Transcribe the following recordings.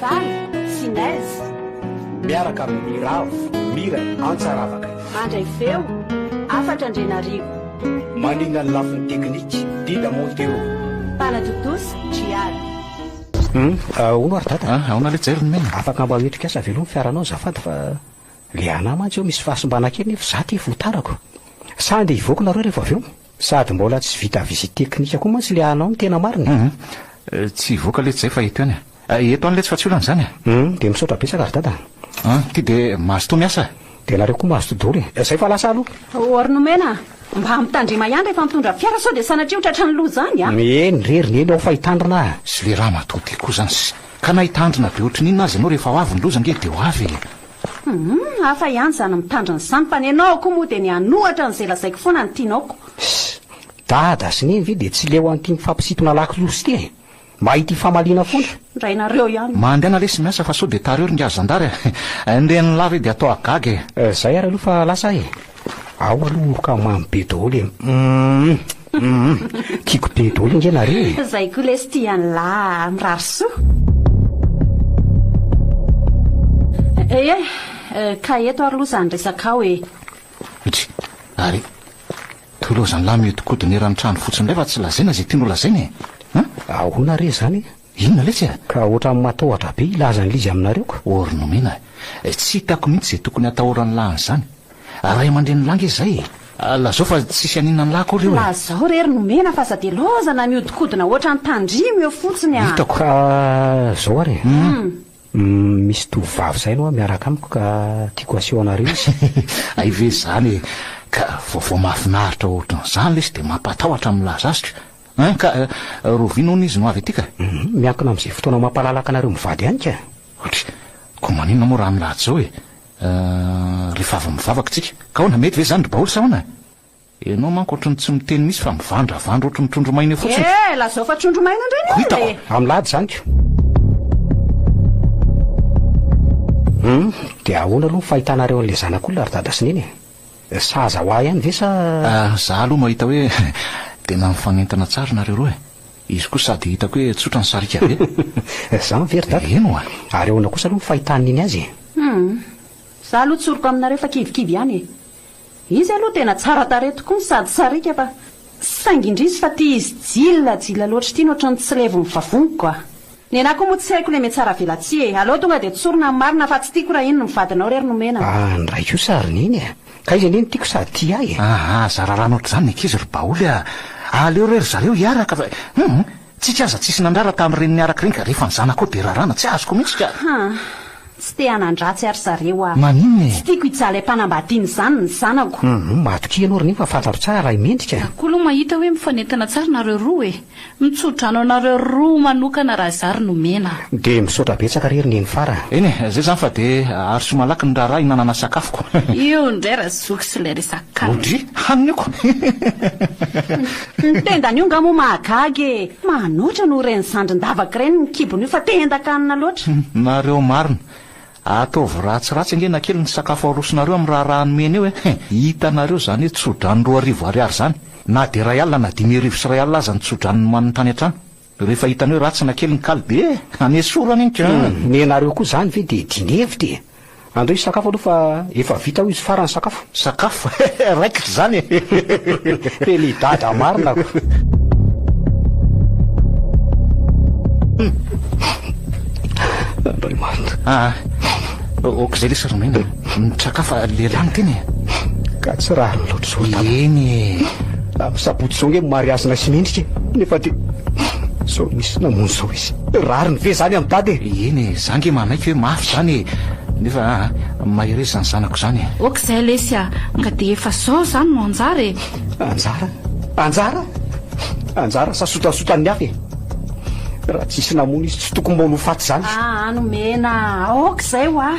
Valo, Finaizy. Miaraka amin'ny Ravo, Mira, Antsa Ravaka. Mandray feo, Afatra Andrianarivo. Manina ny lafiny teknika, Dida Montero. Mpanatontosa, Jiary. Humm ahoana ary dada? Ah aona le Jerry nomena? Afaka mba hoetrika asa veloma fiaranao azafady fa le anah mantsy eo misy fahasimbana kely nefa za ty voatarako. Sa andeha hivoaka nareo rehefa avy eo? Sady mbola tsy vita visite teknika koa mantsy le anao ny tena marina e! Hum, tsy hivoaka letsy zay fa eto ihany a! Eto any letsy fa tsy olana izany a! Hum, dia misaotra betsaka ry dada a! An, ty dia mazotoa miasa a! Dia nareo koa mazotoa daholo e! Zay fa lasa aloha! Or nomena a! Mba ampitandrema ihany rehefa mitondra fiara sao dia sanatria ho tratran'ny loza izany a! Eny re ry neny ao fa hitandrina a! Sy le ramatoa ty koa izany sy! Ka na hitandrina be ohatrin'inona aza ianao rehefa ho avy ny loza ange dia ho avy e! Humm hafa ihany izany mitandrina izany fa ny anao akoho moa dia ny hanohatra an'izay lazaiko foana no tianao ko. Hss! Dada sy Neny ve dia tsy leo an'ity mifampisintona lakolosy ity e! Mba ity famaliana foana! Rainareo ihany! Mandehana lesy miasa fa sao dia tary eo ry ngahy zandary a! Ndeha any lava e dia atao hagaga e! Zay ary aloha fa lasa aho e! Ao aloha omboka mamy be daholo e! Humm! Humm tiako be daholo ange nareo e. Zay koa lesy tia anlah mirary soa. Ehe, ka eto ary loha zany resakao e. Itsy ary toy loha zany lah mihodinkodina eran'ny trano fotsiny indray fa tsy lazaina izay tiany ho lazaina e. An? Ahoana re izany? Inona letsy e? Ka ohatran'ny matahotra be hilaza an'ilay izy aminareo ka. Or nomena e. Tsy hitako mihitsy izay tokony hatahoran'ny lahy an'izany. Ray aman-drenin'ny lahy ange izay e. Lazao fa tsisy haninona ny lahy akory eo e. Lazao re ry nomena fa aza dia laozana mihodinkodina ohatran'ny tandrimo eo fotsiny a. Hitako. Ka zao ary e. Misy tovovavy izay aloha miaraka amiko ka tiako haseho anareo izy. Hay ve izany e. Ka vaovao mahafinaritra ohatran'izany lesy dia mampatahotra milaza azy ka. An ka, rovina hono izy no avy aty ka. Humm, miankina amin'izay fotoana mampalalaka anareo mivady ihany ka. Otry, koa maninona moa raha milahatra izao e? Ahh, rehefa avy mivavaka tsika. Ka ahoana, mety ve izany ry baoly sa ahoana e? Ianao manko ohatry ny tsy miteny mihitsy fa mivandravandra ohatry ny trondro maina eo fotsiny. Ehh, lazao fa trondro maina indray ny olona e! Ko hitako, raha milahatra izany ko. Humm, dia ahoana aloha ny fahitanareo an'ilay zanak'olona ry dada sy neny e? Sahaza ho ahy ihany ve sa. Za aloha mahita hoe tena mifanentana tsara nareo roa e! Izy koa sady hitako hoe tsotra ny sarika be. Zany ve ry dada? Eny oa! Ary ahoana kosa aloha ny fahitany nini azy e? Humm! Za aloha tsoriko aminareo fa kivikivy ihany e! Izy aloha tena tsara tarehy tokoa no sady sarika fa. Saingy indrisy fa ity izy jila jila loatra ity no ohatran'ny tsy levon'ny vavoniko a! Ny anah koa moa tsy haiko ilay metsara-velatsihy e! Aleo tonga dia tsorina ny marina fa tsy tiako raha iny no vadinao re ry nomena a! Ah ny raiko sa ry neny a! Ka izy anie no tiako sady tia ahy e! Ahh aza rarana ohatr'izany ny ankizy ry baoly a! Aleo re ry zareo hiaraka fa hum! Tsika aza tsisy nandrara tamin'ny reniny araka ireny ka rehefa ny zanako koa dia rarana tsy azoko mihitsy ka. Ha, tsy te hanan-dratsy ary zareo aho. Maninona e? Tsy tiako hijaly am-panambadiana izany ny zanako. Hum, matokia ianao ry Niho fa fantatro tsara raha i Mendrika. Za koa aloha mahita hoe mifanentana tsara nareo roa e! Mitsodrano anareo roa manokana raha zary nomena. Dia misaotra betsaka re ry Neny Fara. Eny e, zay zany fa dia aroso malaky ny raharaha hinanana sakafoko. Io indray ra zoky sy ilay resaka kamo. Odry, haniniako. Ny tendan'io nga moa mahagaga e! Manoatra noho ireny zandrin-davaka ireny ny kibony io fa te hendan-kanina loatra. Humm nareo marina. Ataovy ratsiratsy ange na kely ny sakafo arosonareo amin'ny raharaha nomeny eo eh. Hitanareo izany hoe tso-drano roa arivo ariary izany. Na dia iray alina na dimy arivo sy iray alina aza ny tso-drano nomaniny tany an-trano. Rehefa hitany hoe ratsy na kely ny kaly be eh! Hanesorany ny key eh! Nenareo koa zany ve de dinevity e! Andao hisakafo aloha fa efa vita hoy izy farany sakafo. Sakafo? Raikitra izany e! Tena i Dada marina ko! Andriamanitra. Ah, ok izay lesy ry Naina. Nitraka fa lehilahy no tena e. Ka tsy rariny loatra izao ny tany. Eny e. Amin'ny sabotsy izao ange ny mariazy naisy mendrika e. Nefa dia izao misy namonjy izao izy. Rariny ve izany amin'i dada e? Eny e, za ange manaiky hoe mafy izany e. Nefa mahereza izany zanako izany e. Ok izay lesy a. Ka dia efa izao izany no anjara e. Anjara? Anjara? Anjara sa sotasotan'ny hafa e? Raha tsisy namono izy tsy tokony mba ho faty zany. Aa nomena aoka zay wa.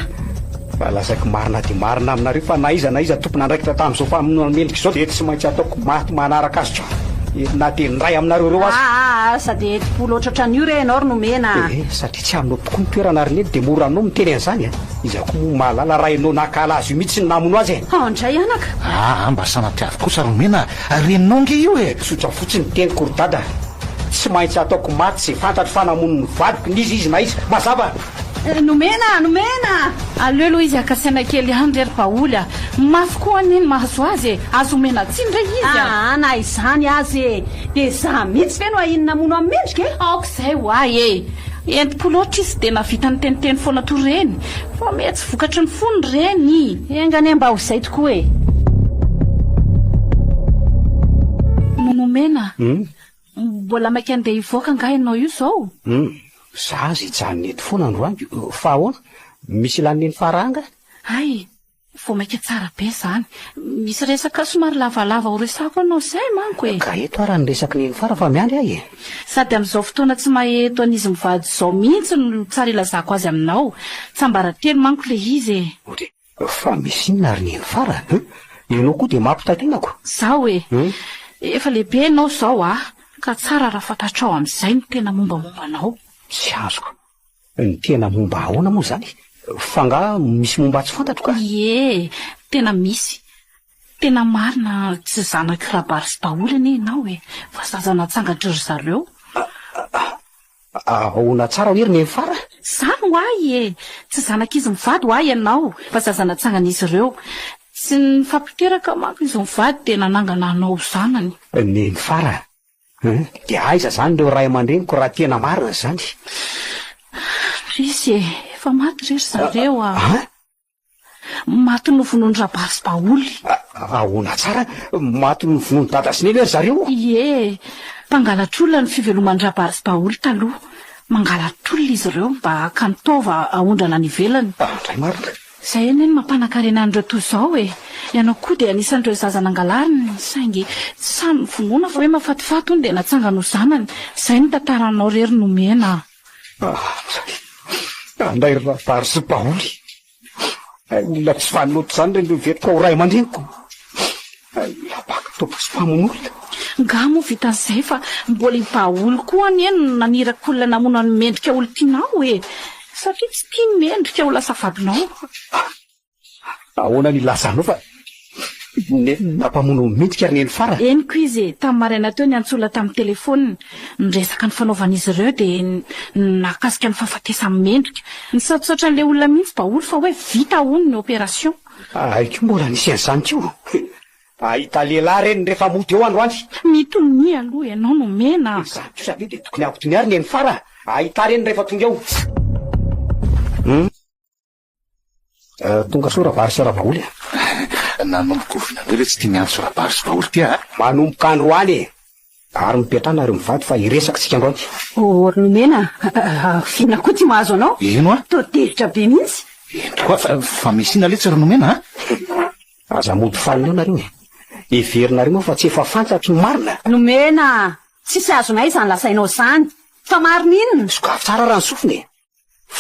Raha lazaiko marina dia marina aminareo fa na iza na iza tompon'andraikitra tamin'izao famonoana mendrika izao dia tsy maintsy ataoko maty manaraka azy ka na dia ny ray aminareo ireo aza. Aa aza dia hetim-po loatra otran'io re ianao ry nomena a. Ee satria tsy aminao tokoa ny toerana ry neny dia mora aminao miteny an'izany a. Iza koa moa mahalala raha ianao nankahala azy io mihitsy no namono azy e. Hao indray anaka. Aa mba sanatria avy kosa ry nomena a. Reninao ange io e. Tsotra fotsiny ny teniko ry dada. Tsy maintsy ataoko maty sy fantatro fa namono ny vadiko n'iza izy na iza. Mazava? Eh, nomena! Nomena! Aleo aloha izy haka saina kely ihany re ry Paoly a! Mafy koa anie ny mahazo azy e! Azo omena tsiny re izy a! Aa, na izany aza e! Dia izaho mihitsy ve no ahiany namono an'i Mendrika e? Aoka izay ho ahy e! Entim-po loatra izy dia nahavita niteniteny foana toa ireny fa miha Vokatry ny fo ny re ny. Enga anie mba ho izay tokoa e! No nomena. Mbola maika andeha hivoaka angaha ianao io izao? Za aza hijanona eto foana androany. Fa ahoana? Misy ilàn'i Neny Farah angaha? Hay! Vao maika tsara be izany. Misy resaka somary lavalava horesahako anao izay manko e! Ka eto ara ny resak'i Neny Farah fa miandry aho e! Sady amin'izao fotoana tsy maheto an'izy mivady izao mihitsy no tsara ilazako azy aminao. Tsiambaratelo manko ilay izy e! Ohatra hoe, fa misy inona ary neny farany an! Ianao koa dia mampitaitana ko! Zaho e! Efa lehibe ianao izao a! Ka tsara raha fantatrao amin'izay ny tena mombamomba anao. Tsy azoko! Ny tena momba ahoana moa izany? F'angaha misy momba tsy fantatro ka! Ie! Tena misy! Tena marina tsy zanak'i Rabaritsy daholo anie ianao e, fa zaza natsangatr'i ry zareo. Ahoana tsara hoy ry Nenifara? Zany ho ahy e! Tsy zanak'izy mivady ho ahy ianao, fa zaza natsangan'izy ireo. Tsy nifampiteraka manko izy mivady dia nanangana anao ho zanany. Nenifara a! Dia aiza izany ireo ray aman-dreniko raha tena marina izany? Resy e! Efa maty re ry zareo a! Maty novonoin'i Rabary sy Baoly. Ahoana tsara? Maty novonoin'i Dada sy Neny ve ry zareo? Ie, mpangalatr'olona ny fiveloman'i Rabary sy Baoly taloha. Mangalatr'olona izy ireo mba hakany taova haondrana any ivelany. Ah, ndray marina. Izay anie no mampanan-karena an'ireo toy izao e! Ianao koa dia anisan'ireo zaza nangalariny, saingy samy vonoina fa hoe mafatifaty hono dia natsangany ho zanany. Izay no tantara anao irery nomena. Anday ry Razary sy Paoly. Olona tsy fanota izany ireny rehefa tao ray aman-dreniko. Lapaky tompoko sy mpamonolona. Angaha moa vitan'izay fa mbola i Paoly koa anie no naniraka olona namono an'i Mendrika olon-tianao e! Satria tsy tiany Mendrika ho lasa vadinao. Ahoana ny ilazanao fa nenina mpamono miditra ry neny Fara? Henoko izy tamin'ny maraina teo niantsola tamin'ny telefonina niresaka ny fanaovan'izy ireo dia ny nahakasika ny fahafatesan'i Mendrika. Nisaotrasaotra an'ilay olona mihitsy Baholy fa hoe vita hono ny opération. Hay koa mbola nisy an'izany koa. Hahita lehilahy reny rehefa mody eo androany. Mitonia aloha ianao nomena a! Izany kosa ve dia tokony hampitonia ry neny Fara? Hahita reny rehefa tonga eo. Eh, tonga soa rabary sy ravaholy a eh. nanomboka ovina anareo ve tsy tia miantso rabary sy vaholy ty a eh? manomboka androany e ary mipetrana ary mivady fa hiresaka tsika androany ory nomena vina koa ty mahazo anao eno a to tevitra be mihitsy eno koa fa misy ina letsy ry nomena a aza mody fanina nareo e heverinareo moa fa tsy efa fantatry ny marina nomena tsisy azonay izany lasainao izany fa marina inona sokafy tsara raha ny sofina e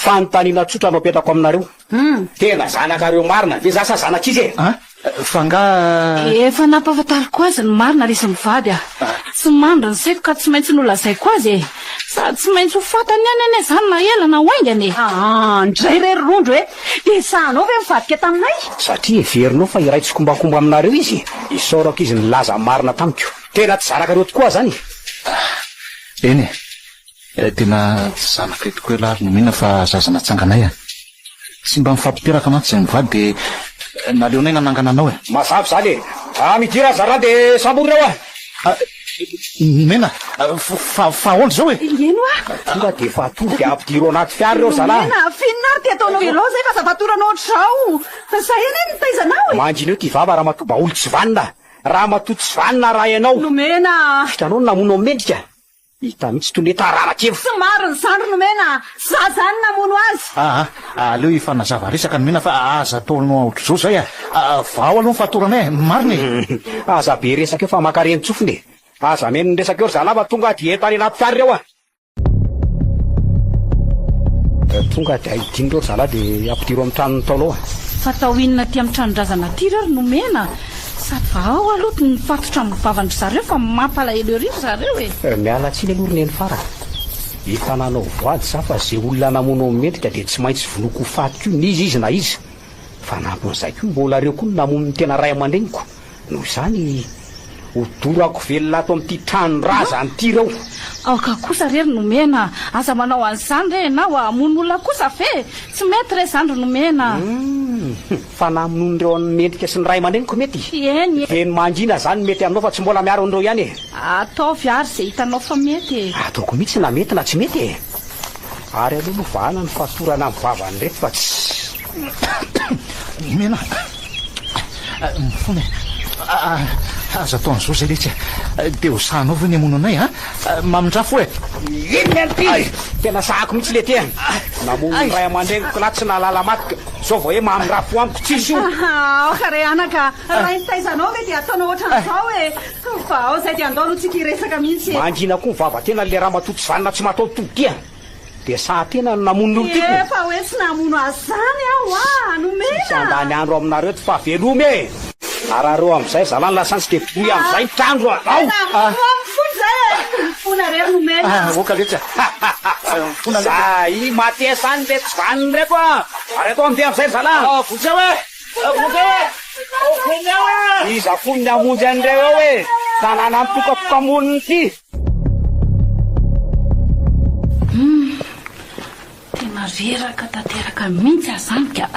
Fanontaniana tsotra no apetrako aminareo. Tena zanakareo marina ve za sa zanak'izy e? An? Fa angaha. Efa nampahafantariko azy ny marina resy mivady a. Tsy mandry ny sefo ka tsy maintsy nolazaiko azy e. Sady tsy maintsy ho fantany ihany anie izany na ela na ho haingana e. Aa ndray re ry Rondro e! Dia esahanao ve mivadika taminay? Satria heverinao fa iray tsikombakomba aminareo izy e. Isaorako izy nilaza ny marina tamiko. Tena tsy zanakareo tokoa aza an e. Eny e. Ilay tena zanaka eto ko elah ary no mihina fa zaza natsanganay a! Tsy mba mifampiteraka mantsy izay mivady dia naleonay nanangana anao e! Mazava izany e! Raha midira aza rano dia samborina hoa! Nomena? Fa fa ahoana izao e! Eny hoa! Tonga dia efa atory dia ampidiro ao anaty fiara ireo zalah! Nomena, avy inona ary ity ataonao ireo izay fa zava-torana ohatr'izao! Zay anie no nitaiza anao e! Mangineo ity vava ramatoa baolitsy vanona! Ramatoa tsy vanona arahy anao! Nomena a! Vitanao ny namono ao mendrika! Hita mihitsy toy ny hoe tararaky eo. Tsy marina izany ry Nomena a! Tsy za izany namono azy. Aa aleo hifanazava resaka Nomena fa aza ataonao aotr'izao izay a! Vahao aloha ny fahatoranay e! Marina e! Aza be resaka eo fa maka ren-tsofina e! Aza hameno ny resaka eo ry zalahy fa tonga dia eto any anaty fiara ireo a! Tonga dia ahidiany ireo ry zalahy dia ampidiro amin'ny tranon'ny Ntaolo ao a! Fa atao inona aty amin'ny tranon-drazana aty ireo ry Nomena a! Savahao aloha tny mifatotra amin'ny vavan-dry zareo fa mampalahelo ery ry zareo e! Miala tsiny aloha ry neny farany. Efa nanao voady za fa ze olona namono an'i Mendrika dia tsy maintsy vonoiko ho faty koa n'iza izy na iza. Fanampin'izay koa mbola reo koa namono ny tena ray aman-dreniko. Noho izany ho dorako velona ato amin'ity tranon-drazany ity reo. Aoka kosa re ry Nomena, aza manao an'izany re enao a! Hamono olona kosa ve? Tsy mety re izany ry Nomena a! Hum! Fa na amin onireo an mendrika sy ny ray aman-dreniko mety Eny e. Dia ny mangina zany mety aminao fa tsy mbola miaro an'ireo ihany e. Ataovy ary izay hitanao fa mety e. Ataoko mihitsy na mety na tsy mety e. Ary aleo aloha vahana ny fatorana amin'ny vavan'ireto fa tsy Omena mifona e. Aza atao an'izao izay letsy e. Dia ho sahanao ve ny hamono anay a? Mamindrafo e. Inona no tiany? Tena sahako mihitsy lety e. Namono ny ray aman-dreniko lahy tsy nahalala maty ka. Zao vao e mamirafo amiko tsisy io. Aha aoka re anaka a! Raha nitaizanao ve dia ataonao ohatran'izao e! Fa ao izay dia andao aloha tsika hiresaka mihitsy e! Mangina koa ny vavatenany le ramatoa tsy vanona tsy mataho-tody dia! Dia sahan-tena no namono ny olon-tiako! Efa hoe tsy namono azy izany aho a! Nomena! Tsy handany andro aminareo eto fa veloma e! Arareo amzay zala ny lasantsy de voy amzay ny trano a! Ao! Ah! Oka letsy a! Ha! Ha! Ha! Mifona letsy a! Za i Mathias any le tsy vaniny reko a! Ary atao amzay amzay ny zala a! Vonjeo e! Vonjeo e! Vonjeo e! Iza fony ny hamonjy anreo eo e! Tanàna mitokapoka-monina ity! Tena reraka tanteraka mihintsy aho izany ka!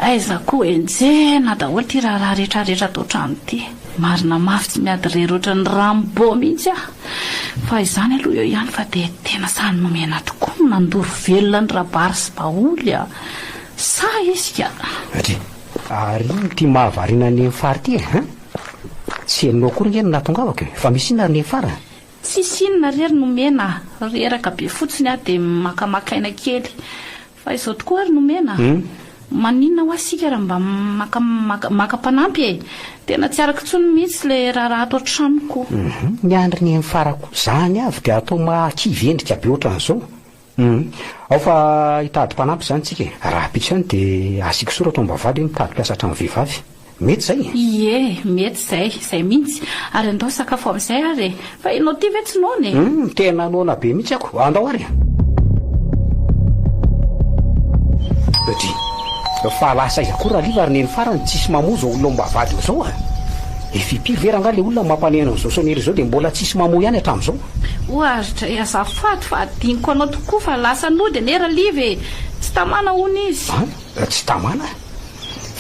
Aiza koa henjehina daholo ity raharaha retraretra ato an-trano ity! Marina mafy tsy miady irery ohatran'ny Rambo mihintsy aho! Fa izany aloha eo ihany fa dia tena sahy nomena tokoa ny nandoro velona an'i Rabary sy Baholy a! Sahy izy ka! Ndry! Ary ino ity mahavariana an'i Neny Fara ity e? Tsy henonao akory nge no nahatongavako e! Fa misy inona ry Neny Fara? Tsisy inona rery nomena a! Reraka be fotsiny aho dia makamaka aina kely. Fa izao tokoa ary nomena a! Maninona hoa isika raha mba maka maka mpanampy e! Tena tsy arako intsony mihitsy ilay raharaha ato an-tranoko. Ny an'ny Renifarako. Izany avy dia atao mahakivy endrika be ohatran'izao. Humm. Ao fa hitady mpanampy izany tsika e. Rahampitso ihany dia asiako soratra ao mba vady hoe mitady mpiasa an-trano vehivavy. Mety izay e! Ie, mety izay. Izay mihitsy. Ary andao hisakafo amin'izay ary e. Fa ianao ity ve tsy noana e? Humm, tena noana be mihitsy ako. Andao ary e! Dry, fa lasa aiza koa Raliva ary Neny farany tsisy mamoa izao olona ao mba vady ao izao a! Efa impiry ve rangaha ilay olona mampanehana an'izao Sonia ireo izao dia mbola tsisy mamoa ihany hatramin'izao? Oa ry Dray azafady fa adinoko anao tokoa fa lasa nody anie Raliva e! Tsy tamana hono izy. An? Tsy tamana?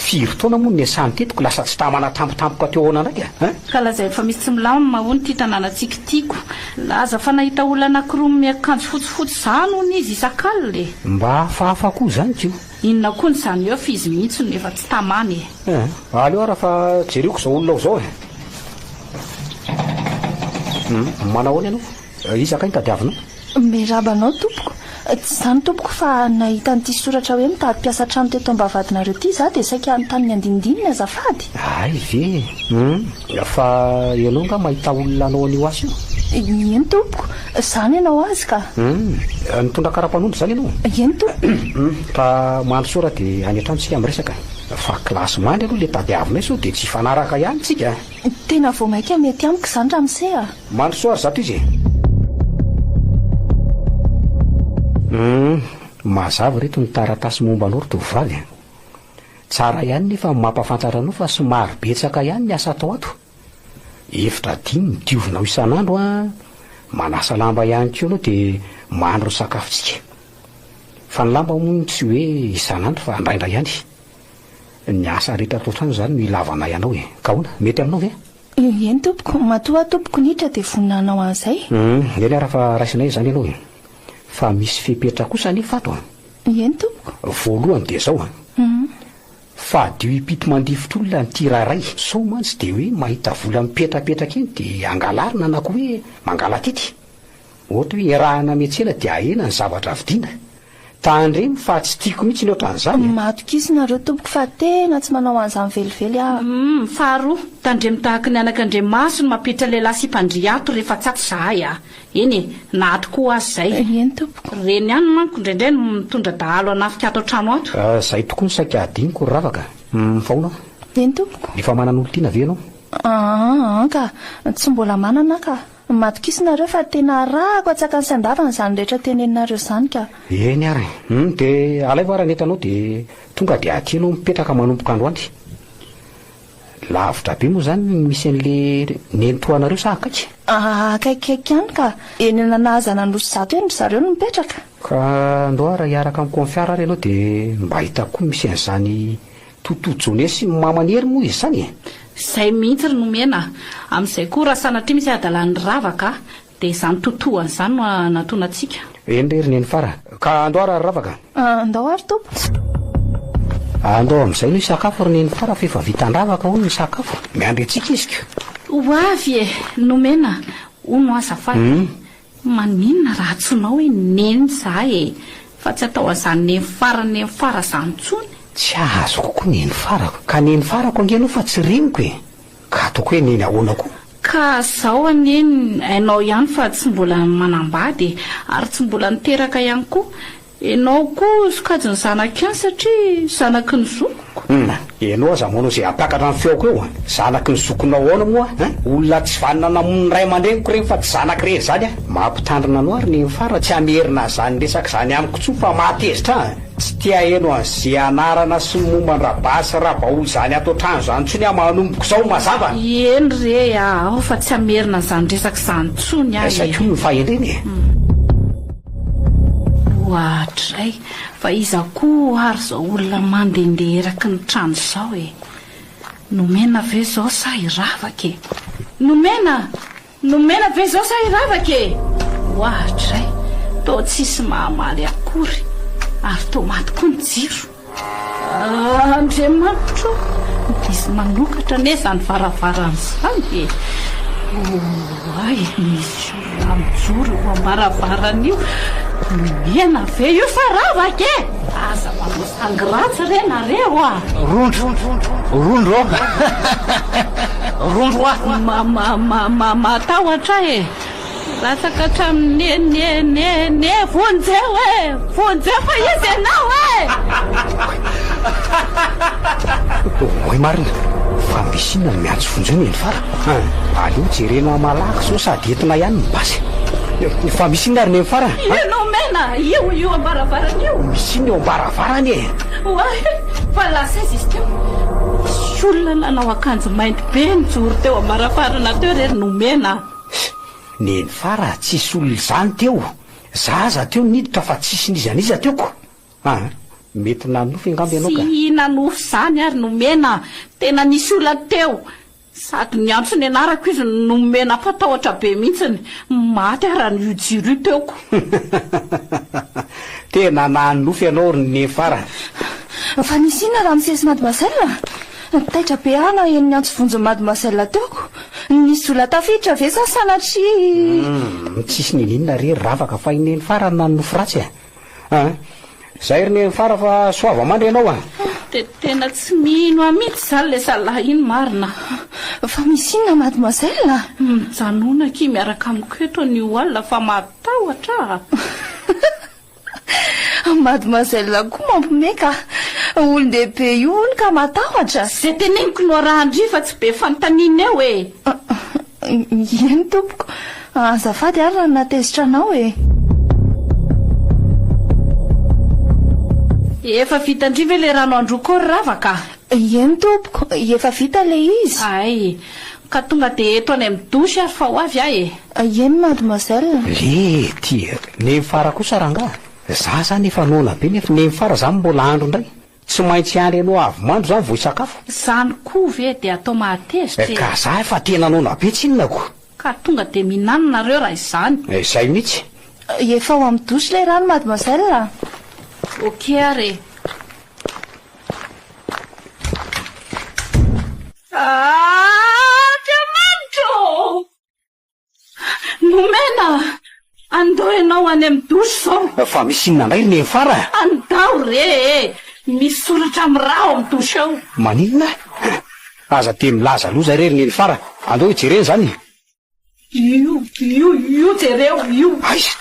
Firy taona moa no niasany teto ka lasa tsy tamana tampotampoka teo ahoana indray ka an? Ka lazainy fa misy tsy milamina hono ity tanànantsika ity ko. Nilaza fa nahita olona anankiroa miakanjo fotsifotsy izany hono izy isak'alina e! Mba hafahafa koa izany ko! Inona koa ny zany oeuf izy mihitsy no efa tsy tamany e. Eh, aleo ara fa jereko izao olona ao izao e. Hum, manahoana ianao? Eh, iza kay no tadiavinao? Miarahaba anao tompoko. Tsy izany tompoko fa nahita an'ity soratra hoe mitady mpiasa an-trano teto am-bavahadinareo ity izaho dia saika hanontany ny andinindininy azafady. Hay ve e. Hum, fa ianao angaha mahita olona hanao an'io asa io? Ieny tompoko. Zany ianao azy ka. Hum, nitondra karapanondro zany ianao? Eny tompoko. Hum, fa mandrosoa ra de any an-trano tsika miresaka fa classe mandry aloha le tadiavinay sao de tsy hifanaraka ihany tsika a! Tena vao maika mety amiko zany ramose a! Mandrosoa ry zato izy e! Hum, mazava ireto ny taratasy momba anao ry tovovavy a! Tsara ihany nefa mampafantatra anao fa somary betsaka ihany ny asa atao ato. Efitra adino ny diovinao isan'andro an! Manasa lamba ihany koa aloha dia mandro ny sakafontsika. Fa ny lamba moa tsy hoe isan'andro fa indraindray ihany. Ny asa rehetra ato an-trano izany no ilavanay anao e! Ka ahoana? Mety aminao ve? Eny tompoko, matoa tompoko niditra dia vonona hanao an'izay. Humm, eny ara fa raisinay izany ianao e! Fa misy fepetra kosa anefa ato an! Eny tompoko. Voalohany dia izao an! Fadio ipito mandifitra olona ny tir aray. Sao mantsy dia hoe mahita vola mipetrapetraka eny dia angalarina na koa hoe mangalatity. Ohatra hoe iarahana miantsena dia ahena ny zavatra vidiana. Tandremo fa tsy tiako mihitsy ny ohatran'izany a! Matokisa nareo tompoko fa tena tsy manao an'izany velively aho. Humm faharoa, tandremo tahaky ny anak'andriamaso ny mampiditra lehilahy sipa an-dry ato rehefa tsato zahay a! Eny e, na ato koa aza izay. Eny tompoko. Ireny ihany manko indraindray no mitondra dahalo hanafika ato an-trano ato. Izay tokoa no saika hadinoko ry ravaka. Humm fa hono a! Eny tompoko. Efa manana olon-tiana ve ianao? Aahh ka! Tsy mbola manana aho ka! Madok'iso nareo fa tena arahako an-tsakany sy an-davany izany rehetra teneninareo izany ka! Eny ary. Humm dia alaivo ary ny entranao dia tonga dia aty ianao mipetraka manomboka androany. Lavitra be moa izany no misy an'le nenitoanareo sa akaiky? Akaikikaiky ihany ka. Eny Ananahazana Anosizato eny ry zareo no mipetraka. Ka ndao ary hiaraka amin'i Konfiara ary ianao dia mba hitako koa misy an'izany Toto Jone sy Mama Neri moa izy izany e! Izay mihitsy ry nomena a! Amin'izay koa raha sanatria misy hadalany rava ka! Dia izany totohany izany no hanatona antsika. Eny re ry neny fara. Ka andao ary ravaka. Andao ary Tompo. Andao amin'izay no hisakafo ry neny fara f'efa vitan-dravaka hono ny sakafo. Miandry antsika izy ko. Ho avy e! Nomena hono azafady. Maninona raha antsoinao hoe neny za e! Fa tsy atao an'izany neny fara neny fara izany intsony. Tsy azoko koa neny farako. Ka neny farako ange aloha fa tsy reniko e! Ka ataoko hoe neny ahoana koa? Ka zao anie hainao ihany fa tsy mbola manambady e! Ary tsy mbola niteraka ihany koa! Enao koa sokajin'ny zanak'i an satria zanaky ny zokiko! Hum! Enao aza manao izay hampakatra ny feoko eo an! Zanaky ny zokinao ahoana moa an! Olona tsy vanona namono ny ray aman-dreniko ireny fa tsy zanako irery izany an! Mampitandrina anao ary neny fa raha tsy hamerina an'izany resaka izany amiko intsony fa mahatezitra ahy an! Tsy te aheno an'ze anarana sy ny momba an-dRabary sy Rabaoly izany ato an-trano izany intsony aho manomboka izao, mazava? Eny re a! Ao fa tsy hamerina an'izany resaka izany intsony aho e! Aiza koa io fahendrena e? Oadray! Fa iza koa ary izao olona mandehandeha eraky ny trano izao e? Nomena ve izao sa hiravaka e? Nomena! Nomena ve zao sa hiravaka e? Oahatra izay, toa tsisy mahamaly akory ary toa maty koa ny jiro. Andriamanitro ô! Misy manokatra anie izany varavarana izany e! Oay, misy olona mijoro eo am-baravarana io. Nomena ve io sa ravaka e? Aza manao Ingrats re nareo a! Rondro, rondro ô! Rondro a! Matahotra e! Latsaka hatramin'ny ne-ne-ne-ne vonjeo e! Vonjeo fa izy ianao e! Oay marina fa misy inona no miantso vonjeo ny any fara? An! Aleo jerena malaky zao sady entina ihany ny basy. Fa misy inona ary neny farany? Ianao Mena, io io am-baravarana io. Misy inona eo am-baravarana e? Oay, fa lasa aiza izy teo? Nisy olona nanao akanjo mainty be nijoro teo am-baravarana teo re ry Nomena a! Neny Fara, tsisy olona izany teo. Za aza teo niditra fa tsisy n'iza n'iza teo ko. Aa mety nanofy angamba ianao ka. Tsy nanofy izany ary nomena an! Tena nisy olana teo. Sady niantso ny anarako izy no nomena fa tahotra be mihitsiny maty ary an io jiro io teo ko. Tena nanofy ianao ry Nefar a! Fa nisy inona raha nisesy mademoiselle? Taitra be aho naheno niantso vonjy ny mademoiselle teo ko. Nisy olona tafiditra ve sa sanatria? Umm tsisy nino inona re ry ravaka fa i Nenfar no nanofy ratsy a! Aa zay ry neny fara fa soava mandry ianao a. De tena tsy mino ahy mihitsy izany ilay zalahy iny marina a. Fa misy inona mademoiselle a? Mijanona akia miaraka amiko eto anio alina fa matahotra a. Mademoiselle koa mampime ka. Olon-dehibe io hono ka matahotra. Izay teneniko no arahan-dry fa tsy be fanontaniana eo e. Eny tompoko. Azafady ary raha natezitra anao e. Efa vita ndry ve le rano andro ko ry rava ka? Eny tompoko, efa vita le izy. Ay, ka tonga de eto any amin'ny douche ary fa ho avy aho e. Eny mademoiselle. Le ty neny fara kosa rangahy? Za zany efa noana be nef neny fara zany mbola andro ndray. Tsy maintsy hiandry anao avy mando izany vao hisakafo? Izany koa ve dia atao mahatezitra e! Ka zah efa tena noana be tsinona ko! Ka tonga dia mihinana nareo raha izany! Izay mihitsy! Efa ao amin'ny douche ilay rano mademoiselle a! Ok ary e! Aah! Andriamanitra ô! Nomena andao ianao any amin'ny douche izao. Fa misy inona indray ry Nefara? Andao re e! Misy soratra miraha ao amin'ny douche ao. Maninona? Aza dia milaza aloha izay re ry Nenifara. Andao hijerena izany e! Io, io, io jereo io. Aiza?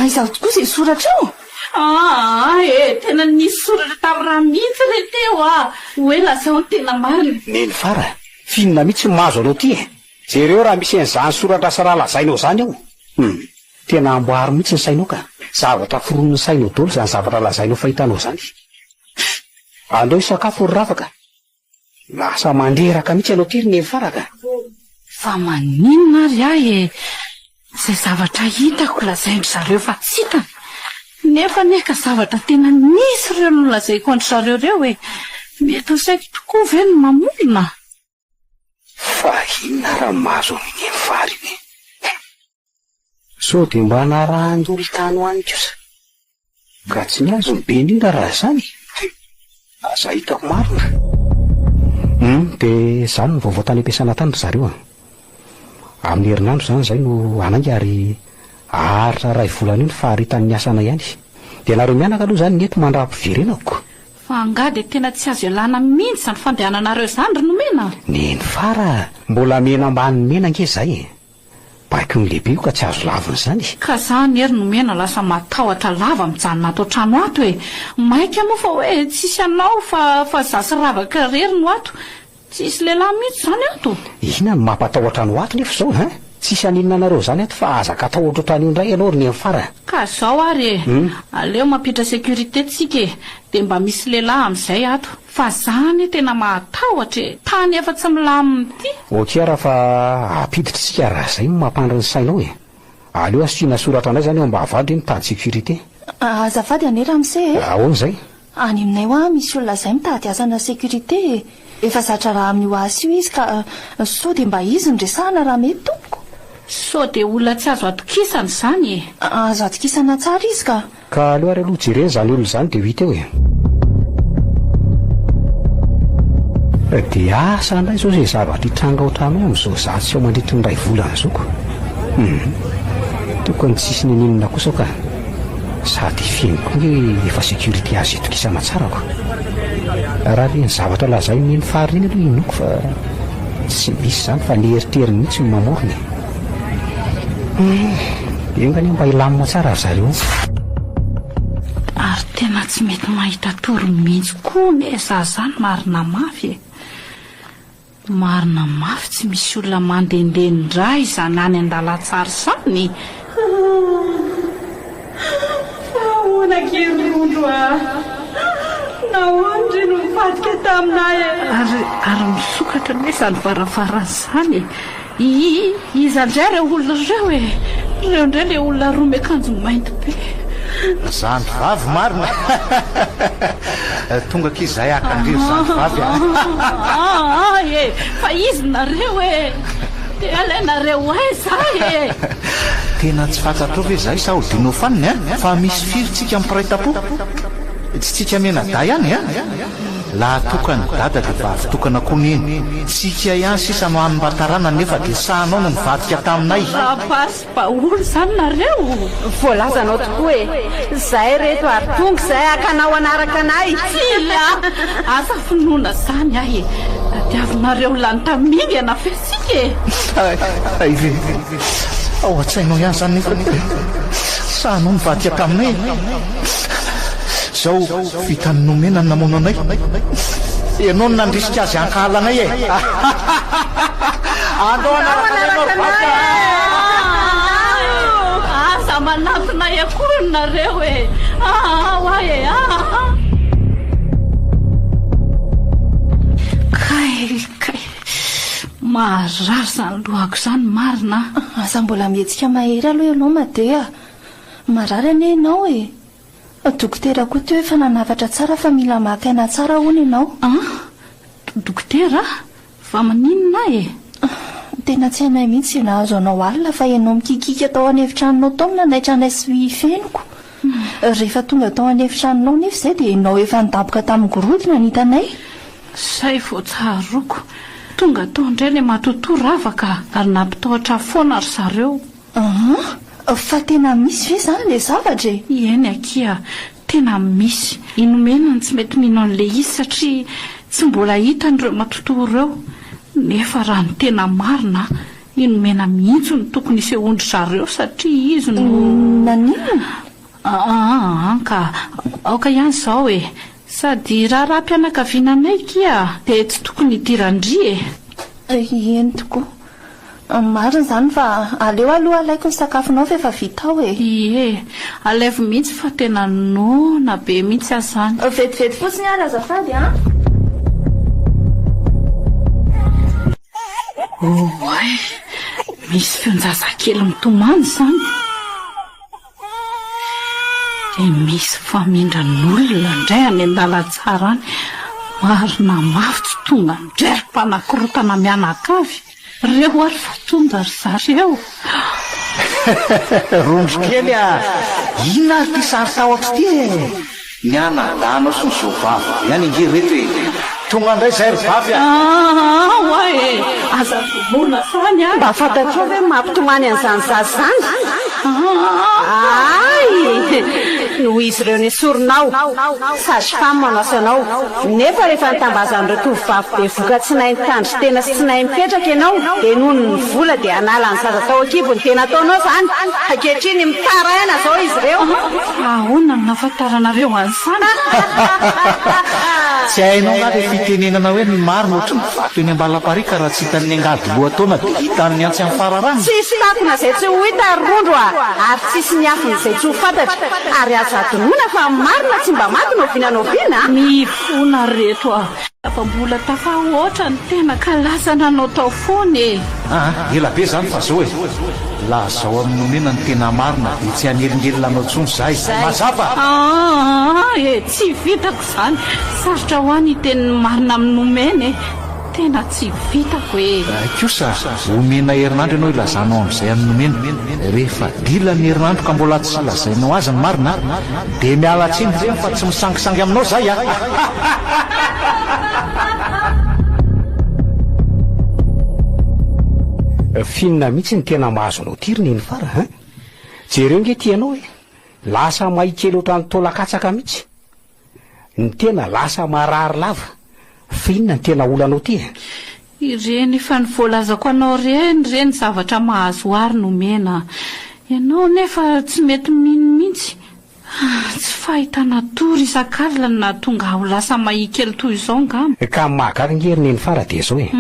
Aiza tokoa izay soratra io? Aa e! Tena nisy soratra tamin'ny ra mihitsy re teo a! Hoe lazao ny tena marina. Nenifara, f'inona mihitsy no mahazo anao ity e? Jereo raha misy an'izany soratr'asa raha lazainao izany ao. Hum. Tena amboary mihitsy ny sainao ka. Zavatra foronin'ny sainao dolo izany zavatra lazainao fa hitanao izany. Hum. Andao hisakafo ry Rafa ka. Lasa mandreraka mihitsy ianao aty ry Nefara ka. Fa maninona ary ahy e? Izay zavatra hitako lazain-dry zareo fa tsy hitany. Nefa anie ka zavatra tena nisy ireo no lazaiko an-dry zareo ireo e. Mety ho saiko tokoa ve ny mamorona? Fa inona raha mahazo an'i Neny vary ve? Sao dia mba narahan-dolo tany ho any kosa? Ka tsy ny azon'i Benina raha izany e! Aza hitako marina. Humm, dia izany no vaovao tany am-piasana tany ry zareo a! Amin'ny herinandro izany izahay no hanainga ary haharitra iray volana eo ny faharitan'ny asanay any. Dia ianareo mianaka aloha izany ny eto mandram-piverenako. Fa angaha dia tena tsy azo ialana mihintsy izany fandehananareo izany ry nomena? Neny fa ra mbola mena ambany mena ange zay e! Baiko ny lehibe io ka tsy azo lavina zany e! Ka za anie ry nomena lasa matahotra lava mijanona ato an-trano ato e! Maika moa fa hoe tsisy anao fa fa za sy ravaka rery no ato! Tsisy lehilahy mihitsy izany ato. Inona no mampatahotra anao ato nefa izao hein? Tsisy haninona anareo izany ato fa azaka atahotra otrany io indray ianao ry nenifara. Ka izao ary e, aleo mampiditra sécurité tsika e, dia mba misy lehilahy amin'izay ato. Fa za anie tena mahatahotra e, tany efa tsy milamina ity. Ok ara fa ampiditra isika raha izay no mampandry ny sainao e. Aleo asiana soratra indray izany eo am-bavahadra hoe mitady sécurité. Azafady anie ramose e. Ahoana izay? Any aminay hoa misy olona zay mitady asana sécurité e! Efa zatra raha amin'io asa io izy ka sao dia mba izy no resahana raha mety tompoko? Sao dia olona tsy azo atokisana izany e! Azo atokisana tsara izy ka! Ka aleo ary aloha jerena izany olona izany dia ho hita eo e! Dia asa ndray izao izay zavatra hitranga ao an-tranonay amin'izao izaho tsy ao mandritra ny iray volana izao ko! Hum! Tokony tsisy ninininona kosa aho ka! Sady feno koa hoe efa security azo itokisana tsara ko. Raha le ny zavatra lazain'ny eny fary iny aloha inoako fa tsy misy zany fa le eritery mihitsy no mamorona e. Eh, enga anie mba hilamina tsara ry zareo. Ary tena tsy mety mahita tory mihitsy koa anie za zany marina mafy e. Marina mafy tsy misy olona mandendeha ndra izany any andalantsara izany e! Hahh! Fa ahoana gie ry rondro a! Nahoana ry no nivadika taminay e! Ary ary misokatra anie izany varavarana izany e! Hihihi, iza ndray ireo olona ireo e? Ireo ndray ilay olona roa miakanjo mainty be. Zandry vavy marina a! Tonga akia izahay haka an-dry zandry vavy a! Aa e! Fa iza nareo e? Te halain nareo aiza ahy e? Tena tsy fantatrao ve izahay sa ho dino fanina e? Fa misy firy tsika mpiray tampo? Tsy tsika mianadahy ihany e? Laha toa ka ny dada dia vavy tokana koa neny, tsy ikia ihany sisa no hany mba taranany nefa dia sahanao no nivadika taminay. Rapace baoul izany nareo? Voalazanao tokoa e! Zay reto ary tonga izay hakanao hanaraka anay! Tsia! Asa finoana izany ahy e! Tadiavinareo lany tamingana ve isika e! Hay! Hay ve! Ao an-tsainao ihany izany nefa dia sahanao nivadika taminay e! Izao. Vitan'i Nomena ny namono anay. Ianao no nandrisika azy hankahala anay e! Andao hanaraka anay ianao ry vadiko a! Aza manatona ahy akory nareo e! Aa hoa e! Aa! Kay! Kay! Maharary izany lohako izany marina a! Aza mbola mihetsika mahery aloha ianao Made a! Marary anie ianao e! Dokotera koa teo efa nanafatra tsara fa mila maka aina tsara hono ianao. An? Dokotera? Fa maninona ahy e? Tena tsy hainay mihitsy izay nahazo anao alina fa ianao mikikika tao an'efitranonao tao no nanaitra anay sy ny feniko. Rehefa tonga tao an'efitranonao anefa izay dia ianao efa nidaboka tamin'ny gorodona no hitanay. Izay vao tsaroako. Tonga tao indray ilay matotoa ravaka ary nampitahotra ahy foana ry zareo. Aa! Fa tena misy ve izany ilay zavatra e? Eny akia, tena misy. I Nomena no tsy mety mino an'ilay izy satria tsy mbola hitany ireo matotoa ireo. Nefa raha ny tena marina, i Nomena mihitsy no tokony hisehoan-dry zareo satria izy no. Naninona? Aa ka, aoka ihany izao e! Sady raharaham-pianakaviana anay ikia dia tsy tokony hidiran-dry e! Eny tokoa. Marina izany fa aleo aloha alaiko ny sakafonao fa efa vita ao e! Ie, alaivo mihitsy fa tena noana be mihitsy aza izany. Vetivety fotsiny ary azafady an! Oay! Misy feon-jazakely mitomany izany! Dia misy famindran'olona indray any an-dalantsara any. Marina mafy tsy tonga indray ry mpanakorontana mianakavy. Reo ary vao tonga ry zareo. Rondrokely a! Inona ary ity sary tahotra ity e? Ny anadahinao sy ny zo vavy ihany ange reto e! Tonga ndray zay ry vavy a! Aah oa e! Aza vonoina zany a! Mba fantatrao ve ny mahapitomany an'izany zaza izany? Aay! Noho izy ireo nesorinao, sage femme manasa anao, nefa rehefa nitambazan'ireo tovovavy bevoka tsy nahay nitandry tena sy tsy nahay mipetraka ianao dia noho ny vola dia hanala ny zaza tao an-kibony dia nataonao izany! Ankehitriny mitaraina izao izy ireo! Ahoana no nahafantaranareo an'izany? Tsy hainao angaha ilay fitenenana hoe ny marina ohatry ny vato eny am-balapariaka raha tsy hitan'ny angady lohataona dia hitan'ny antsy amin'ny fararano? Tsisy takona izay tsy ho hita ry rondro a! ary tsisy miafina izay tsy ho fantatra! ary azo hadinoina fa ny marina tsy mba maty no oviana no oviana a! Mifona ry reto a! Fa mbola tafahoatra ny tena ka lasa nanao tao foana e! Aa ela be izany fa zao e! Lazao amin'ny nomena ny tena marina dia tsy hanelingelina anao intsony izahay. Mazava? Aa e! Tsy vitako izany. Sarotra ho ahy ny hiteny ny marina amin'ny nomena e! Tena tsy vitako e! Hay kosa, omena herinandro ianao hilazanao amin'izay amin'ny nomena. Rehefa dilan'ny herinandro ka mbola tsy lazainao azy ny marina, Dia miala tsiny reny fa tsy misangisangy aminao zay a! Finina mihitsy ny tena mahazo anao ty ry nenifara a! Jereo nge ty ianao e! Lasa may kely ohatran'ny taolakatsaka mihitsy ny tena, lasa marary lava, Fa inona no tena olanao ty e? Ireny efa ny voalazako anao ireny re ny zavatra mahazo ahy ry nomena a! Ianao anefa tsy mety mino mihitsy! Tsy fahitana tory isak'alina no nahatonga ahy ho lasa mahia kely toy izao angamba. Ka ny mahagaga ange ry nenifara dia izao e!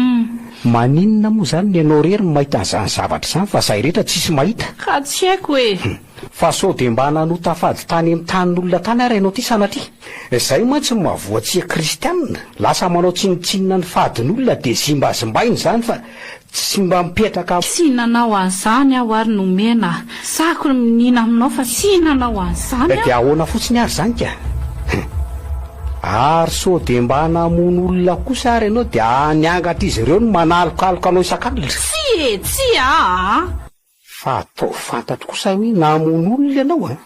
Maninona moa izany no ianao irery no mahita an'izany zavatra izany fa izahay rehetra tsisy mahita? Ka tsy haiko e! Fa sao dia mba nanota fady tany amin'ny tanin'olona tany ary ianao ity sanatria? Izay mantsy no maha voatsia kristianina, lasa manao tsinontsinona ny fadin'olona dia zimbazimbaina izany fa tsy mba mipetraka Tsy nanao an'izany aho ary nomena sako ny miniana aminao fa tsy nanao an'izany Dia aho. ahoana fotsiny ary izany ka? Hum. Ary sao dia mba namono olona kosa ary ianao dia niangatr'izy ireo ny manalokaloka anao isan-kalina? Tsia e! Tsia aa! Fa ataovy fantatro kosa hoe namono olona ianao an!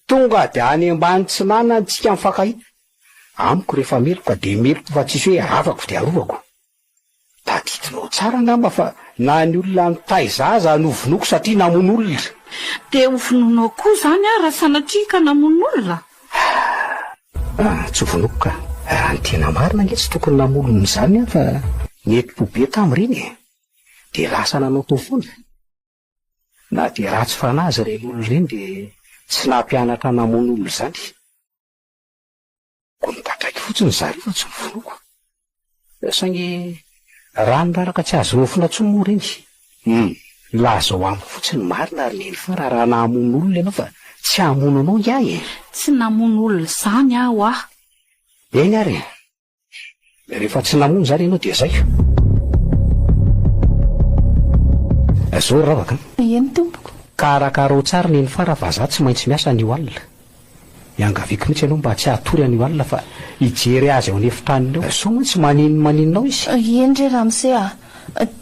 Tonga dia any ambany tsinanany tsika mifankahita. Amiko rehefa meloka dia meloka fa tsisy hoe arovako dia arovako. Tadidinao tsara angamba fa na ny olona nitaiza aza novonoiko satria namono olona. Dia ho vonoinao koa izany aho raha sanatria ka namono olona? Ahh ah, tsy ho vonoiko ka! Raha ny tena marina ange tsy tokony namono olona izany aho fa nety-po be tamin'ireny e! dia lasa nanao tao foana. Na dia ratsy fanahy aza ireny olona ireny dia tsy nampianatra namono olona izany. Koa nipatraiky fotsiny zareo fa tsy novonoiko. Saingy raha ny raraka tsy azo nofona intsony moa ireny. Hum, lazao amiko fotsiny ny marina ry neny fa raharaha nahamono olona ianao fa tsy hamono anao ingahy e! Tsy namono olona izany aho ah! Eny ary e! Rehefa tsy namono izany ianao dia zay. Zoro ravaka an! Eny tompoko. Ka arakarao tsara neny fara fa za tsy maintsy miasa anio alina. Iangaviako mihitsy ianao mba tsy hatory anio alina fa hijery azy ao an'efitranony ao. Soa moa tsy maninonmaninona ao izy. Eny re ramose a!